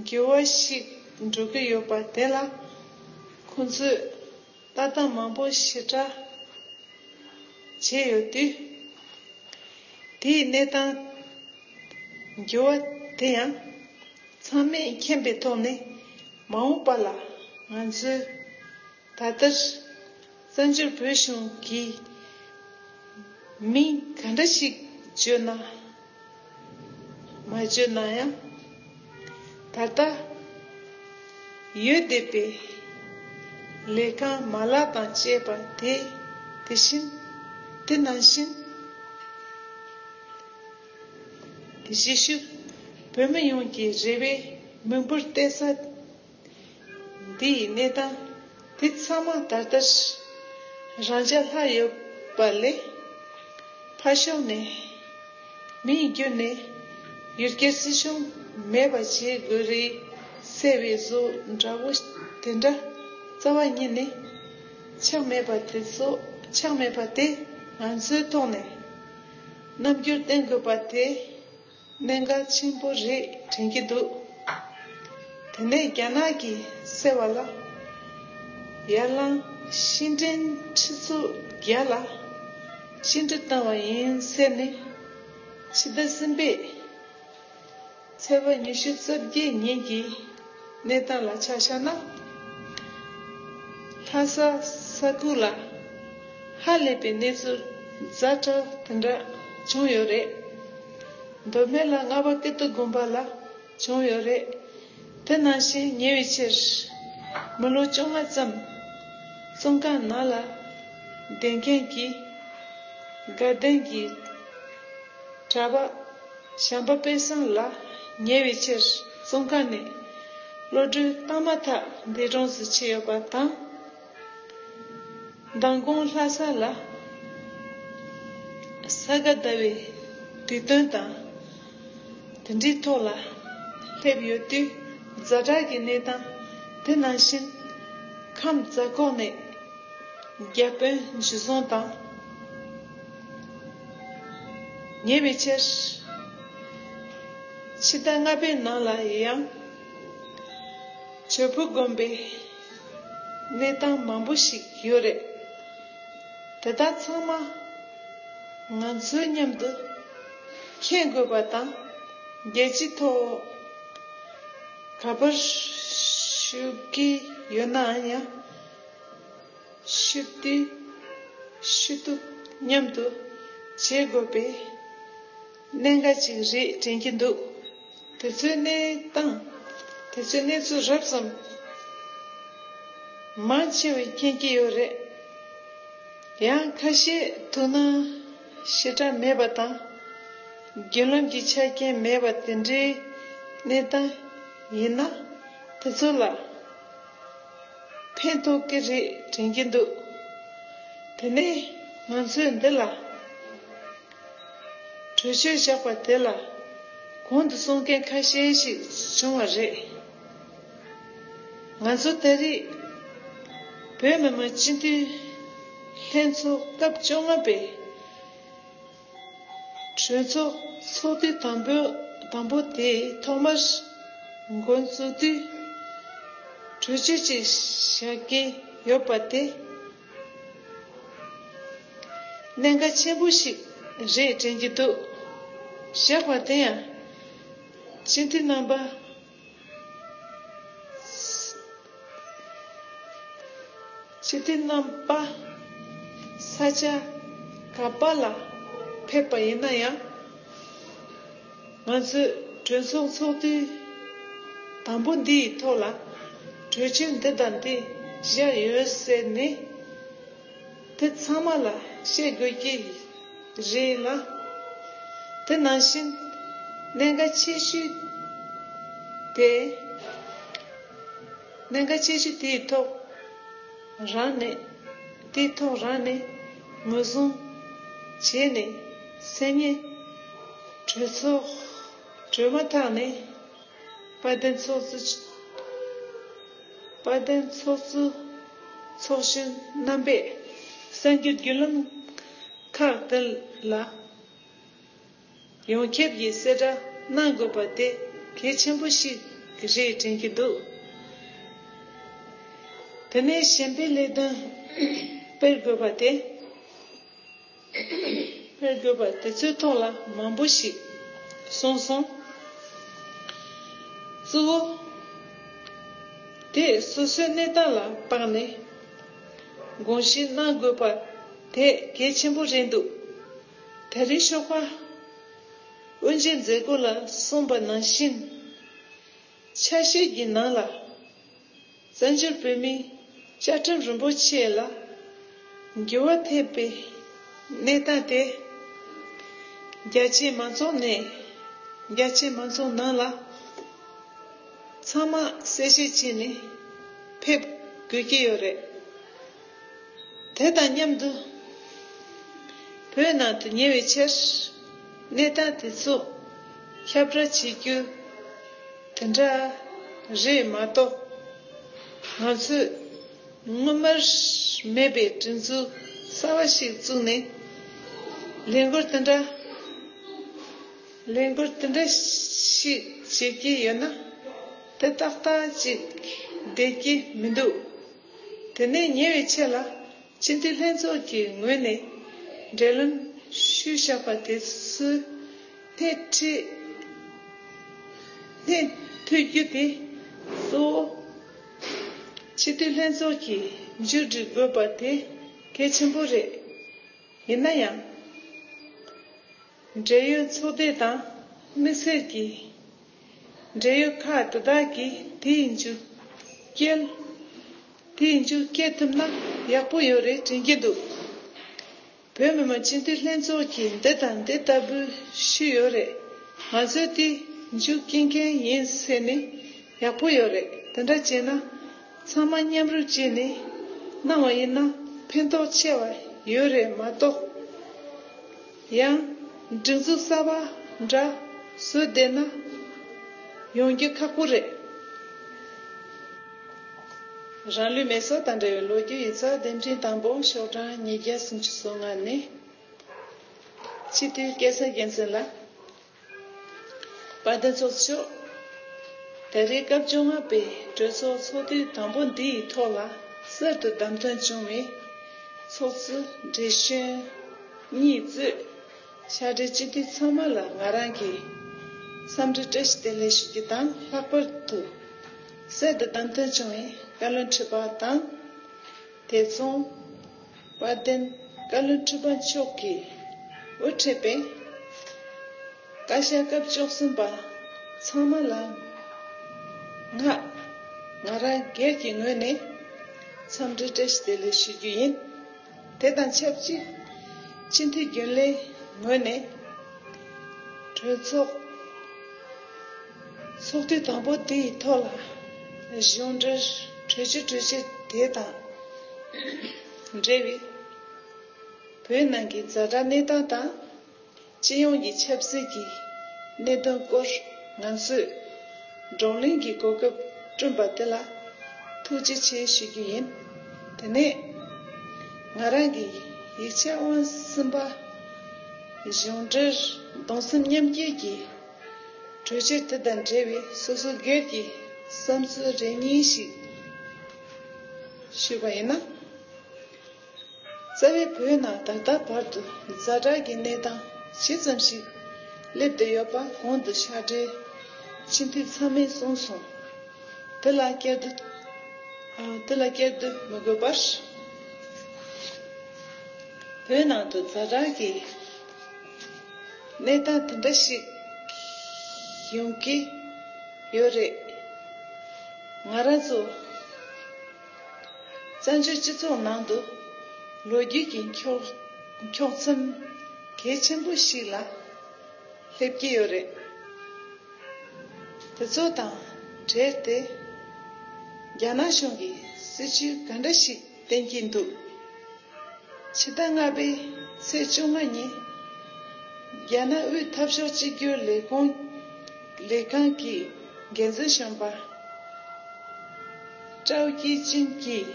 འགྱུར་བ་ཞིག་འགྲོ་གི་ཡོད་པ་དེ་ལ་ཁོང་ཚོས་ལྟ་སྟངས་མང་པོ་ཞེ་དྲག་བྱས་ཡོད་དུས། དེའི་གནས་སྟངས་འགྱུར་བ་དེ་ཡང་ཚང་མས་མཁྱེན་པའི་ཐོག་ནས་མ་འོངས་པ་ལ་ང་ཚོའི་ད་ལྟར་བཙན་བྱོལ་བོད་གཞུང་གི་མིང་ག་འདྲ་ཞིག་བརྗོད་ན་མ་བརྗོད་ན་ཡང་ད་ལྟ་ཡོད་བསྡད་པའི་ལས་ཁང་མ་ལག་དང་བཅས་པ་དེ་དེ་བཞིན་དེ་ནང་བཞིན་གཞིས་བཞུགས་བོད་མི་ཡོངས་ཀྱི་རེ་བའི་མི་འབོར་གཏད་ས་འདི་ཡི་གནས་དང་དེ་ཚང་མ་ད་ལྟར་རང་ཅག་ལྷག་ཡོད་པ་ལས། ཕ་གཞོན་ནས་མི་ཡི་རྒྱུད་ནས་ཡུལ་སྐད་སྲིད་གཞུང་མེད་པ་བྱེད་དགོས་རེད་ཟེར་བའི་བཟོ་འདྲ་བོ་དེ་འདྲ་རྩ་བ་ཉིད་ནས་ཆགས་མེད་པ་དེ་ཚོ་ཆགས་མེད་པ་དེ་ང་ཚོའི་ཐོག་ནས་རྣམ་འགྱུར་བསྟན་དགོས་པ་དེ། གནད་འགག་ཆེན་པོ་རེ་དྲན་གྱི་འདུག་དེ་ནས་རྒྱ་ནག་གི་སེར་བ་ལ་ཡར་ལངས་ཤིང་འབྲེལ་འདྲིས་ཚུར་རྒྱལ་ལ་ཅི་འདྲི་བཏང་བ་ཡིན་ཟེར་ནས་ཕྱི་ཟླ་གསུམ་པའི་ཚེས་པ་ཉི་ཤུ་རྩ་བརྒྱད་ཉིན་གྱི་གནས་སྟངས་ལ་ཆ་བཞག་ན། ལྷ་ས་ས་ཁུལ་ལ་ཧ་ལས་པའི་གནས་ཚུལ་རྫ་དྲག་དེ་འདྲ་བྱུང་ཡོད་རེད། མདོ་སྨད་ལ་རྔ་པ་ཀི་ཏི་དགོན་པ་ལ་བྱུང་ཡོད་རེད། དེ་ནང་བཞིན་ཉེ་བའི་ཆར་མི་ལོ་བཅོ་ལྔ་ཙམ་བཙོན་ཁང་ནང་ལ་བསྡད་མཁན་གྱི་དགའ་ལྡན་གྱི་གྲྭ་པ། བྱམས་པ་དཔལ་བཟང་ལ་ཉེ་བའི་ཕྱིར་བཙོན་ཁང་ནས་གློད་གྲོལ་བཏང་མ་ཐག་འདས་གྲོངས་སུ་ཕྱིན་ཡོད་པ་དང། མདང་དགོང་ལྷ་ས་ལ་ས་ག་ཟླ་བའི་དུས་སྟོན་དང་དེ་འབྲེལ་ཐོག་ལ་སླེབས་ཡོད་དུས་རྫ་བྲག་གི་གནས་སྟངས་དེ་ནང་བཞིན་ཁམས་རྫ་ཁོག་ནས་རྒྱ་དཔོན་འཇུ་བཟུང་དང། ཉེས་པའི་ཕྱིར། ཕྱི་ཟླ་ལྔ་པའི་ནང་ལ་ཡང། གྱོས་ཕུ་དགོན་པའི་གནས་སྟངས་མང་པོ་ཞིག་ཡོད་རེད། དེ་དག་ཚང་མ་ང་ཚོའི་མཉམ་དུ་མཁྱེན་དགོས་པ་དང་རྒྱལ་སྤྱིའི་ཐོག་ག་པར་ཞུ་གི་ཡོད་ནའང་ཡང། ཤི་བདེ། ཤི་སྡུག་མཉམ་དུ་བྱེད་དགོས་པའི་གནད་འགག་ཅིག་རེད་དྲན་གྱི་འདུག་དེ་ཚོའི་གནས་སྟངས་དེ་ཚོའི་གནས་ཚུལ་རབ་ཙམ་མང་ཆེ་བས་མཁྱེན་གྱི་ཡོད་རེད། ཡང་ཁ་ཤས་ཐུགས་སྣང་ཞེ་དྲག་མེད་པ་དང་རྒྱུན་ལམ་གྱི་ཆ་རྐྱེན་མེད་པ་དེ་འདྲའི་གནས་སྟངས་ཡིན་ན་དེ་ཚོ་ལ། ཕན་ཐོགས་ཀྱི་རེད་དྲན་གྱི་འདུག་དེ་ནས་ང་ཚོས་འདི་ལ་གྲོས་ཆོད་བཞག་པ་དེ་ལ་གོང་དུ་གསུང་མཁན་ཁ་ཤས་ཤིག་བྱུང་བ་རེད། ང་ཚོ་ལྟ་རིགས་བོད་མི་མང་སྤྱི་འཐུས་ལྷན་ཚོགས་སྐབས་བཅོ་ལྔ་པའི། གྲོས་ཚོགས་ཚོགས་དུས་དང་པོ་དེའི་ཐོག་མར། མགོན་གཙོ་དུས་གྲོས་ཆོད་ཅིག་བཞག་གི་ཡོད་པ་དེ། གནད་འགག་ཆེན་པོ་ཞིག་རེད་དྲན་གྱི་འདུག་བཞག་པ་དེ་ཡང། སྤྱི་འཐུས་རྣམ་པ། ཕྱི་དྲིལ་རྣམ་པ་ས་ཆ་ག་པ་ལ་ཕེབས་པ་ཡིན་ན་ཡང། ང་ཚོས་གྲོས་ཚོགས་ཚོགས་དུས་དང་པོ་འདིའི་ཐོག་ལ་གྲོས་ཆོད་འདི་དང་དེ་བཞག་ཡོད་ཟེར་ནས། དེ་ཚང་མ་ལ་བཤད་དགོས་ཀྱི་རེད་ལ། དེ་ནང་བཞིན་གནད་འགག་ཆེ་ཤོས་དེ། གནད་འགག་ཆེ་ཤོས་དེའི་ཐོག་རང་ནས་དེའི་ཐོག་རང་ནས་ངོས་བཟུང་བྱས་ནས་སེམས་ཉིད་གྲོས་ཚོགས་གྲོལ་མ་ཐག་ནས་དཔལ་ལྡན་ཚོགས་གཙོ། དཔལ་ལྡན་ཚོགས་གཙོ་ཚོགས་གཞོན་རྣམ་པས་གསར་འགྱུར་བརྒྱུད་ལམ་ཁག་དེ་ལ་ཡོངས་ཁྱབ་ཀྱི་གསལ་བསྒྲགས་གནང་དགོས་པ་དེ་གལ་ཆེན་པོ་ཞིག་རེད་དྲན་གྱི་འདུག་དེ་ནས་གཞན་པའི་ལས་དོན་སྤེལ་དགོས་པ་དེ། སྨོས་དགོས་པ་དེ་ཚོའི་ཐོག་ལ་མང་པོ་ཞིག་གསུངས་སོང། གཙོ་བོ། དེས་སོ་སོའི་གནས་སྟངས་ལ་དཔག་ནས་དགོངས་བཞེས་གནང་དགོས་པ་དེ་གལ་ཆེན་པོ་རེད་འདུག་ད་རིང་ཤོག་པ་དབུ་འབྱེད་མཛད་སྒོ་ལ་གསུངས་པ་ནང་བཞིན། ཆ་ཤས་ཀྱི་ནང་ལ། བཙན་བྱོལ་བོད་མིའི་བཅའ་ཁྲིམས་རིན་པོ་ཆེ་ལ་འགྱུར་བ་ཐེབས་པའི་གནས་སྟངས་དེས། རྒྱ་ཆེའི་མང་ཚོགས་ནས་རྒྱ་ཆེའི་མང་ཚོགས་ནང་ལ་ཚང་མ་གསལ་བཤད་བྱས་ནས་ཕེབས་དགོས་ཀྱི་ཡོད་རེད། དེ་དང་མཉམ་དུ་བོད་ནང་དུ་ཉེ་བའི་ཆར་གནས་སྟངས་དེ་ཚོ་ཁྱབ་བསྒྲགས་བྱེད་རྒྱུ། དེ་འདྲ་རེད་མ་གཏོགས། ང་ཚོས་སྔོན་མར་མེད་པའི་བྲིན་ཚུལ་གསར་བ་ཞིག་བཙུགས་ནས། ལས་འགུལ་དེ་འདྲ་ལས་འགུལ་དེ་འདྲ་ཞིག་བྱེད་ཀྱི་ཡོད་ན། དེ་ཏག་ཏག་ཅིག་བསྡད་ཀྱི་མི་འདུག། དེ་ནས་ཉེ་བའི་ཆད་ལ་སྤྱི་འཐུས་ལྷན་ཚོགས་ཀྱི་ངོས་ནས་འབྲེལ་ལམ་ཞུས་བཞག་པ་དེ་ཚོའི་སྣེ་ཁྲིད་ཐུབ་རྒྱུ་དེ་གཙོ་བོ་སྤྱི་འཐུས་ལྷན་ཚོགས་ཀྱིས་མཇུག་སྒྲིལ་དགོས་པ་དེ་གལ་ཆེན་པོ་རེད། ཡིན་ན་ཡང། འབྲེལ་ཡོད་ཚོགས་སྡེ་དང་དམིགས་བསལ་གྱི་འབྲེལ་ཡོད་ཁག་དེ་དག་གིས་དེའི་མཇུག་སྐྱེལ། དེའི་མཇུག་སྐྱེལ་ཐུབ་ན་ཡག་པོ་ཡོད་རེད་དྲན་གྱི་འདུག་བོད་མི་མང་སྤྱི་འཐུས་ལྷན་ཚོགས་ཀྱིས་འདི་དང་འདི་ལྟ་བུའི་ཤུལ་ཡོད་རེད་ང་ཚོས་དེའི་མཇུག་སྐྱེལ་མཁན་ཡིན་ཟེར་ནས་ཡག་པོ་ཡོད་རེད་དེ་འདྲ་བྱས་ན། ཚང་མ་མཉམ་རུབ་བྱས་ནས་གནང་བ་ཡིན་ན་ཕན་ཐོགས་ཆེ་བ་ཡོད་རེད་མ་གཏོགས། ཡང། སྒྲིག་འཛུགས་གསར་པ་འདྲ་བཟོས་བསྡད་ན་ཡོང་རྒྱུ་ཁག་པོ་རེད། རང་ལུས་མེ་སྲོག་དང་འབྲེལ་བའི་ལོ་རྒྱུས་ཡིག་ཚགས་འདེམས་ཁྲིམས་དང་པོ་ཤོག་གྲངས་ཉིས་བརྒྱ་སུམ་ཅུ་སོ་ལྔ་ནི། སྤྱི་འཐུས་སྐལ་བཟང་རྒྱལ་མཚན་ལགས། པ་བདེ་ཚོགས་མཆོག། ད་རེས་སྐབས་བཅོ་ལྔ་པའི་གྲོས་ཚོགས་ཚོགས་དུས་དང་པོ་འདི་ཡི་ཐོག་ལ་གསར་དུ་བདམས་ཐོན་བྱུང་བའི་ཚོགས་གཙོ་བགྲེས་གཞོན་གཉིས་གཙོས་ཤག་སྦྲེལ་སྤྱི་འཐུས་ཚང་མ་ལ་ང་རང་གིས་བསམ་འདུན་བཀྲ་ཤིས་བདེ་ལེགས་ཞུ་རྒྱུ་དང་ལྷག་པར་དུ་གསར་དུ་བདམས་ཐོན་བྱུང་བའི་བཀའ་བློན་ཁྲི་པ་དང། དེ་མཚུངས། དཔལ་ལྡན་བཀའ་བློན་ཁྲི་པ་མཆོག་གིས་དབུ་ཁྲིད་པའི་བཀའ་ཤག་སྐབས་བཅུ་གསུམ་པ་ཚང་མ་ལ་ངག་ང་རང་སྒེར་གྱི་ངོས་ནས་འཚམས་འདྲི་བཀྲ་ཤིས་བདེ་ལེགས་ཞུ་རྒྱུ་ཡིན། དེ་དང་ཆབས་ཅིག་སྤྱི་འཐུས་རྒྱུན་ལས་ངོས་ནས་གྲོས་ཚོགས། ཚོགས་དུས་དང་པོ་དེ་ཡི་ཐོག་ལ། གཞུང་འབྲེལ་གྲོས་ཆོད་གྲོས་ཆོད་དེ་དང་འབྲེལ་བའི། བོད་ནང་གི་རྫ་དྲྭ་གནས་སྟངས་དང། སྤྱི་ཡོངས་ཀྱི་ཆབ་སྲིད་ཀྱི་གནད་དོན་སྐོར་ང་ཚོས་བགྲོ་གླེང་གི་གོ་སྐབས་བསྐྲུན་པ་དེ་ལ་ཐུགས་རྗེ་ཆེ་ཞུ་རྒྱུ་ཡིན། དེ་ནས་ང་རང་གི་ཡིག་ཆ་དབང་སིམ་པ། གཞུང་འབྲེལ་གདུང་སེམས་མཉམ་སྐྱེད་ཀྱི་གྲོས་ཆོད་དེ་དང་འབྲེལ་བའི་སོ་སོའི་སྒེར་གྱི་བསམ་ཚུལ་རེ་གཉིས་ཤིག་ཞུས་པ་ཡིན་ན། རྩ་བའི་བོད་ནང་ད་ལྟ་བར་དུ་རྫ་དྲག་གི་གནས་སྟངས་ཇི་ཙམ་ཞིག་སླེབས་བསྡད་ཡོད་པ་གོང་དུ་ཕྱག་སྦྲེལ་སྤྱི་འཐུས་ཚང་མས་གསུངས་སོང། དེ་ལ་སྐྱར་ཟློས་དེ་ལ་སྐྱར་ཟློས་མི་དགོས་པར། བོད་ནང་དུ་རྫ་དྲག་གི། གནས་སྟངས་དེ་འདྲ་ཞིག་ཡོང་གི་ཡོད་རེད། ང་རང་ཚོ་བཙན་བྱོལ་སྤྱི་ཚོགས་ནང་དུ་ལོ་རྒྱུས་ཀྱི་འཁྱོག་མཚམས་གལ་ཆེན་པོ་ཞིག་ལ་སླེབས་ཀྱི་ཡོད་རེད། དེ་ཚོ་དང་འབྲེལ་ཏེ་རྒྱ་ནག་གཞུང་གི་སྲིད་བྱུས་ག་འདྲ་ཞིག་བསྟན་གྱི་འདུག། ཕྱི་ཟླ་ལྔ་པའི་ཚེས་བཅོ་ལྔ་ཉིན། རྒྱ་ནག་དབུས་འཐབ་ཕྱོགས་གཅིག་གྱུར་ལས་ཁུངས་ལས་ཁང་གི་འགན་འཛིན་གཞོན་པ། ཀྲའོ་ཀྱི་ཅིན་གྱིས།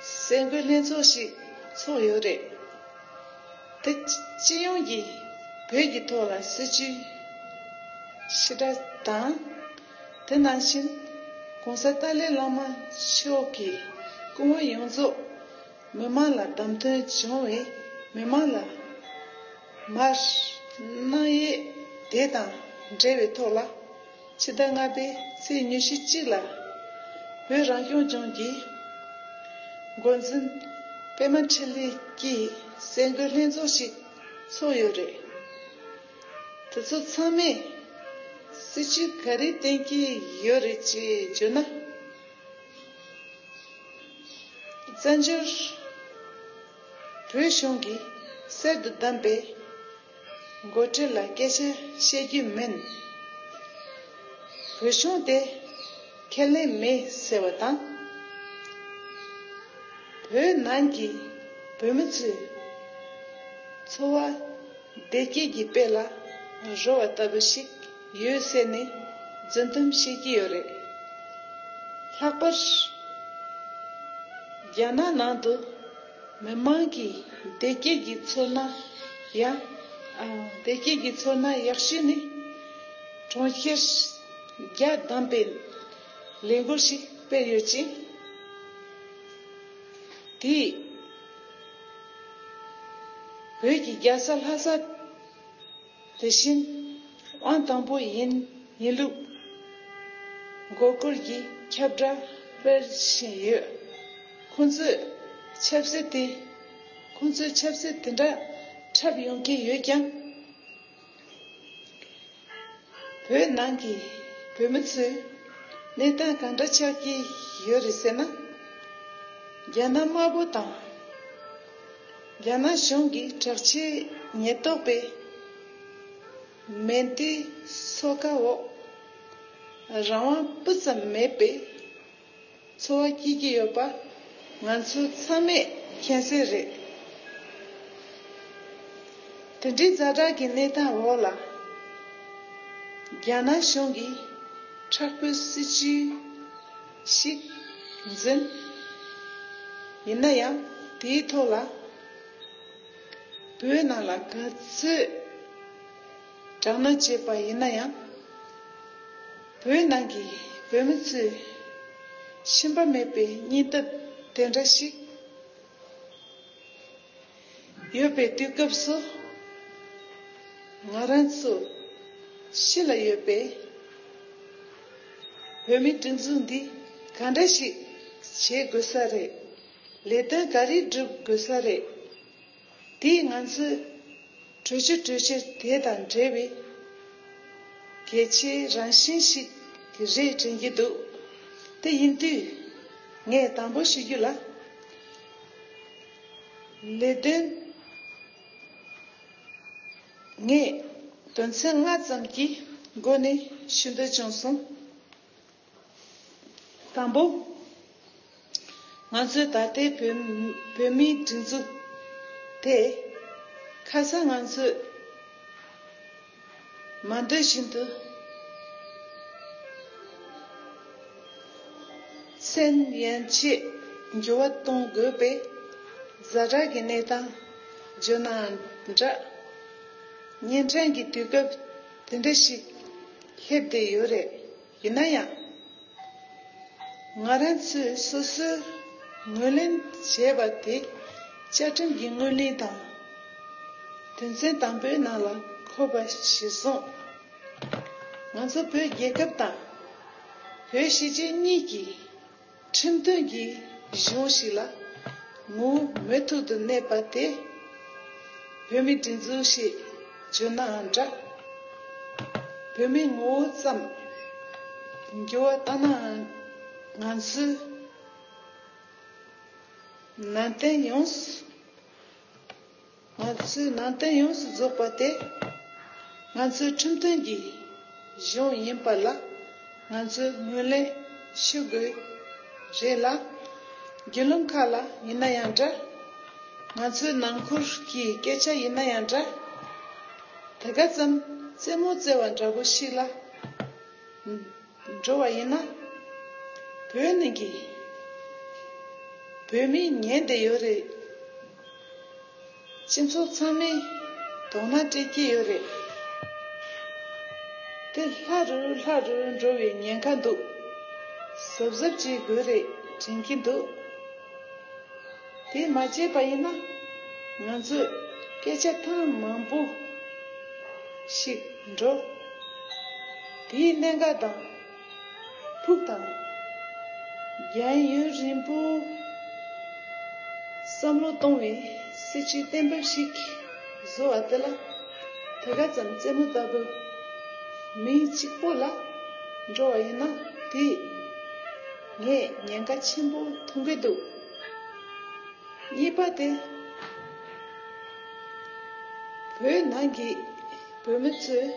གསལ་འགོད་ལྷན་ཚོགས་ཤིག་ཚོགས་ཡོད་རེད། དེ་སྤྱི་ཡོངས་ཀྱིས་བོད་ཀྱི་ཐོག་ལ་སྲིད་བྱུས་ཕྱི་དགྲ་དང། དེ་ནང་བཞིན ྋགོང་ས་ཏཱ་ལའི་བླ་མ་མཆོག་གི་སྐུ་ངོ་ཡོངས་རྫོགས་མི་མང་ལ་བདམས་ཐོན་བྱུང་བས་མི་མང་ལ་མར་སྣང་ཡས་དེ་དང་འབྲེལ་བའི་ཐོག་ལ་ཕྱི་ཟླ་ལྔ་པའི་ཚེས་ཉུ་ཞི་གཅིག་ལ་བོད་རང་སྐྱོང་ལྗོངས་ཀྱི་མགོ་འཛིན་པད་མ་འཕྲིན་ལས་ཀྱིས་སེ་འགོད་ལྷན་ཚོགས་ཤིག་ཚོགས་ཡོད་རེད། དེ་ཚོ་ཚང་མས། སྲིད་བྱུས་ག་རེ་བསྟན་གྱི་ཡོད་རེད་ཅེས་བརྗོད་ན། བཙན་བྱོལ་བོད་གཞུང་གིས་གསེར་དུ་བདམས་པའི་མགོ་ཁྲིད་ལ་སྐད་ཆ་བཤད་རྒྱུ་མིན། བོད་གཞུང་དེ་ཁས་ལེན་མེད་ཟེར་བ་དང། བོད་ནང་གི་བོད་མི་ཚོའི་འཚོ་བ། བདེ་སྐྱིད་ཀྱི་དཔལ་ལ་རོལ་བ་ལྟ་བུ་ཞིག་ཡོད་ཟེར་ནས་རྫུན་གཏམ་བཤད་ཀྱི་ཡོད་རེད། ལྷག་པར་རྒྱ་ནག་ནང་དུ་མི་མང་གིས་བདེ་སྐྱིད་ཀྱི་ཚོར་སྣང་ཡང། བདེ་སྐྱིད་ཀྱི་ཚོར་སྣང་ཡག་ཤོས་ནི་གྲོང་ཁྱེར་རྒྱ་བསྡམས་པའི་ལས་འགུལ་ཞིག་སྤེལ་ཡོད་ཅིང། དེས། བོད་ཀྱི་རྒྱལ་ས་ལྷ་ས། དེ་བཞིན་དབང་དང་པོ་ཡིན་ཡིན་ལུགས། མགོ་སྐོར་གྱིས་ཁྱབ་བསྒྲགས་སྤེལ་བཞིན་ཡོད། ཁོང་ཚོས་ཆབ་སྲིད་དེ། ཁོང་ཚོའི་ཆབ་སྲིད་དེ་འདྲ་འཁྲབ་ཡོང་གི་ཡོད་ཀྱང། བོད་ནང་གི་བོད་མི་ཚོས་གནས་སྟངས་གང་འདྲ་ཆགས་ཀྱི་ཡོད་རེད་ཟེར་ན། རྒྱ་ནག་དམར་པོ་དང་རྒྱ་ནག་གཞུང་གི་དྲག་ཆས་ཉེན་རྟོག་པའི་མེ་མདའི་སོ་ཁ་འོག་རང་དབང་སྤུ་ཙམ་མེད་པའི་འཚོ་བ་སྐྱེལ་གྱི་ཡོད་པ་ང་ཚོ་ཚང་མས་མཁྱེན་གསལ་རེད། དེ་འདྲའི་རྫ་དྲག་གི་གནས་སྟངས་འོག་ལ། རྒྱ་ནག་གཞུང་གིས་འཁྲག་པོའི་སྲིད་བྱུས་ཤིག་འཛིན། ཡིན་ན་ཡང་དེའི་ཐོག་ལ། བོད་ནང་ལ་ག་ཚོད། དྲག་གནོན་བྱས་པ་ཡིན་ན་ཡང། བོད་ནང་གི་བོད་མི་ཚོས་ཞུམ་པ་མེད་པའི་སྙིང་སྟོབས་དེ་འདྲ་ཞིག་ཡོད་པའི་དུས་སྐབས་སུ། ང་རང་ཚོ་ཕྱི་ལ་ཡོད་པའི་བོད་མི་སྒྲིག་འཛུགས་འདི་ག་འདྲ་ཞིག་བྱེད་དགོས་ས་རེད། ལས་དོན་ག་རེ་བསྒྲུབ་དགོས་ས་རེད། དེས་ང་ཚོས་གྲོས་ཆོད་གྲོས་ཆོད་དེ་དང་འབྲེལ་བའི་གལ་ཆེའི་རང་བཞིན་ཞིག་གི་རེད་དྲན་གྱི་འདུག་དེ་ཡིན་དུས་ངས་དང་པོ་ཞུ་རྒྱུ་ལ། ལས་དོན་ངས་དོན་ཚན་ལྔ་ཙམ་གྱི་སྒོ་ནས་ཞུ་འདོད་བྱུང་སོང། དང་པོ། ང་ཚོའི་ད་ལྟའི་བོད་མིའི་སྒྲིག་འཛུགས་དེ། ཁ་སང་ང་ཚོས་མ་འདོད་བཞིན་དུ་ཚད་ཡན་ཆེས་འགྱུར་བ་གཏོང་དགོས་པའི་གཟའ་གྲགས་ཀྱི་གནས་སྟངས་བརྗོད་ནའང་འདྲ། གཉན་འཕྲང་གི་དུས་སྐབས་དེ་འདྲ་ཞིག་སླེབས་བསྡད་ཡོད་རེད། ཡིན་ན་ཡང། ང་རང་ཚོས་སོ་སོས་ངོས་ལེན་བྱས་པ་དེ་བཅའ་ཁྲིམས་ཀྱི་ངོས་ལེན་དང། དོན་ཚན་དང་པོའི་ནང་ལ་འཁོད་པ་གཞིར་བཟུང། ང་ཚོ་བོད་རྒྱལ་ཁབ་དང། བོད་གཞིས་བྱེས་གཉིས་ཀྱི། ཁྲིམས་མཐུན་གྱི་གཞུང་ཞིག་ལ་མུ་མེད་ཐུག་ཏུ་གནས་པ་དེ་བོད་མིའི་སྒྲིག་འཛུགས་ཞེས་བརྗོད་ནའང་འདྲ། བོད་མིའི་ངོ་བོ་ཙམ་འགྱུར་བ་བཏང་ནའང་ང་ཚོའི་ནང་བསྟན་ཡོངས་སུ། ང་ཚོའི་ནང་དོན་ཡོངས་སུ་རྫོགས་པ་དེ་ང་ཚོའི་ཁྲིམས་མཐུན་གྱི་གཞུང་ཡིན་པ་ལ་ང་ཚོས་ངོས་ལེན་ཞུ་དགོས་རེད་ལ། རྒྱུད་ལུང་ཁག་ལ་ཡིན་ན་ཡང་འདྲ། ང་ཚོའི་ནང་ཁུལ་གྱི་སྐད་ཆ་ཡིན་ན་ཡང་འདྲ། དེ་ག་ཙམ་རྩེད་མོ་རྩེ་བ་འདྲ་པོ་ཞིག་ལ། འགྲོ་བ་ཡིན་ན། བོད་ནང་གི་བོད་མི་ཉེན་བསྡད་ཡོད་རེད། སྤྱི་ཚོགས་ཚང་མས་དོགས་སྣང་སྤྲད་ཀྱི་ཡོད་རེད། དེ་ལྷ་རུ་ལྷ་རུ་འགྲོ་བའི་ཉེན་ཁ་འདུག་གཟབ་གཟབ་བྱེད་དགོས་རེད་དྲན་གྱི་འདུག། དེ་མ་བྱས་པ་ཡིན་ན་ང་ཚོས་སྐད་ཆ་ཐེངས་མང་པོ་ཞིག་འགྲོ། དེའི་གནད་འགག་དང་ཕུགས་དང། རྒྱལ་ཡོན་རིན་པོ་བསམ་བློ་གཏོང་བའི་སྲིད་བྱུས་གཏན་འབེབས་ཤིག་བཟོ་བ་དེ་ལ་དེ་ག་ཙམ་རྩེད་མོ་ལྟ་བུ་མི་གཅིག་པོ་ལ་འགྲོ་བ་ཡིན་ན་དེས་ངས་ཉེན་ཁ་ཆེན་པོ་མཐོང་གི་འདུག། གཉིས་པ་དེ། བོད་ནང་གི་བོད་མི་ཚོས་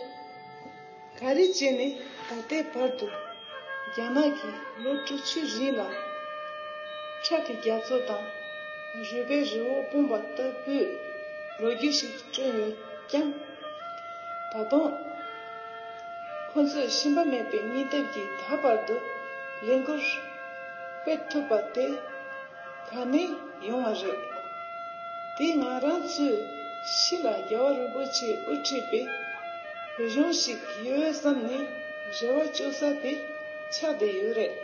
ག་རེ་བྱས་ནས་ད་ལྟའི་བར་དུ་རྒྱ་ནག་གིས་ལོ་དྲུག་ཅུའི་རིང་ལ་ཁྲག་གི་རྒྱ་མཚོ་དང་རུས་པའི་རི་བོ་སྤུངས་པ་ལྟ་བུའི་ལོ་རྒྱུས་ཤིག་བསྐྲུན་ཡོད་ཀྱང། ད་དུང་ཁོ་ཚོས་ཞུམ་པ་མེད་པའི་སྙིང་སྟོབས་ཀྱིས་ད་བར་དུ་ལས་འགུལ། སྤེལ་ཐུབ་པ་དེ་ད་ནས་ཡོང་བ་རེད། དེས་ང་རང་ཚོའི་གཞིས་ལ་རྒྱལ་བ་རིན་པོ་ཆེས་དབུ་ཁྲིད་པའི་བོད་གཞུང་ཞིག་ཡོད་བསམ་ནས་རེ་བ་བཅོལ་ས་དེ་ཆགས་བསྡད་ཡོད་རེད།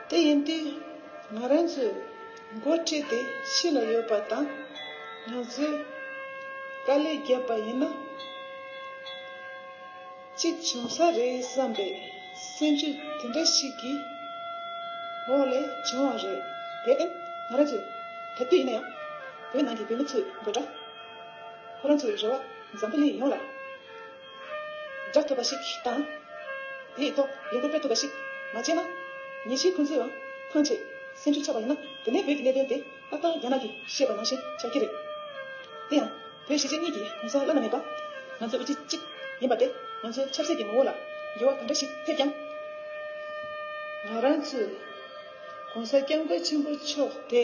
དེ་ཡིན་དུས་ང་རང་ཚོའི་འགོ་ཁྲིད་དེ་གཞིས་ལ་ཡོད་པ་དང་ང་ཚོས་དཀའ་ལས་བརྒྱབ་པ་ཡིན་ན། གཅིག་བྱུང་ས་རེད་བསམ་པའི་སེམས་ཆུ་དེ་འདྲ་ཞིག་གི་འོག་ལས་བྱུང་བ་རེད། དེར་བརྟེན་ང་རང་ཚོས་ག་དུས་ཡིན་ན་ཡང་བོད་ནང་གི་བོད་མི་ཚོའི་དགོད་སྒྲ་ཁོ་རང་ཚོའི་རེ་བ་འཛམ་བུ་གླིང་ཡོངས་ལ་བསྒྲགས་ཐུབ་པ་ཞིག་དང། དེའི་ཐོག་ལས་འགུལ་སྤེལ་ཐུབ་པ་ཞིག་མ་བྱས་ན། ཉིན་ཞིག་ཁོང་ཚོའང་ཐང་ཆད་སེམས་ཆུ་ཆགས་པ་ཡིན་ན་དེ་ནས་བོད་ཀྱི་གནད་དོན་དེ་ཏག་ཏག་རྒྱ་ནག་གིས་བཤད་པ་ནང་བཞིན་ཆགས་ཀྱི་རེད། དེ་ཡང། བོད་གཞིས་བྱེས་གཉིས་ཀྱི་གོང་ས་བླ་ན་མེད་པ་ང་ཚོའི་དབུ་ཁྲིད་གཅིག་ཡིན་པ་སྟེ་ང་ཚོའི་ཆབ་སྲིད་ཀྱི་ངོ་བོ་ལ་འགྱུར་བ་ག་འདྲ་ཞིག་ཐེབས་ཀྱང། ང་རང་ཚོས་གོང་ས་སྐྱབས་མགོན་ཆེན་པོ་མཆོག་དེ།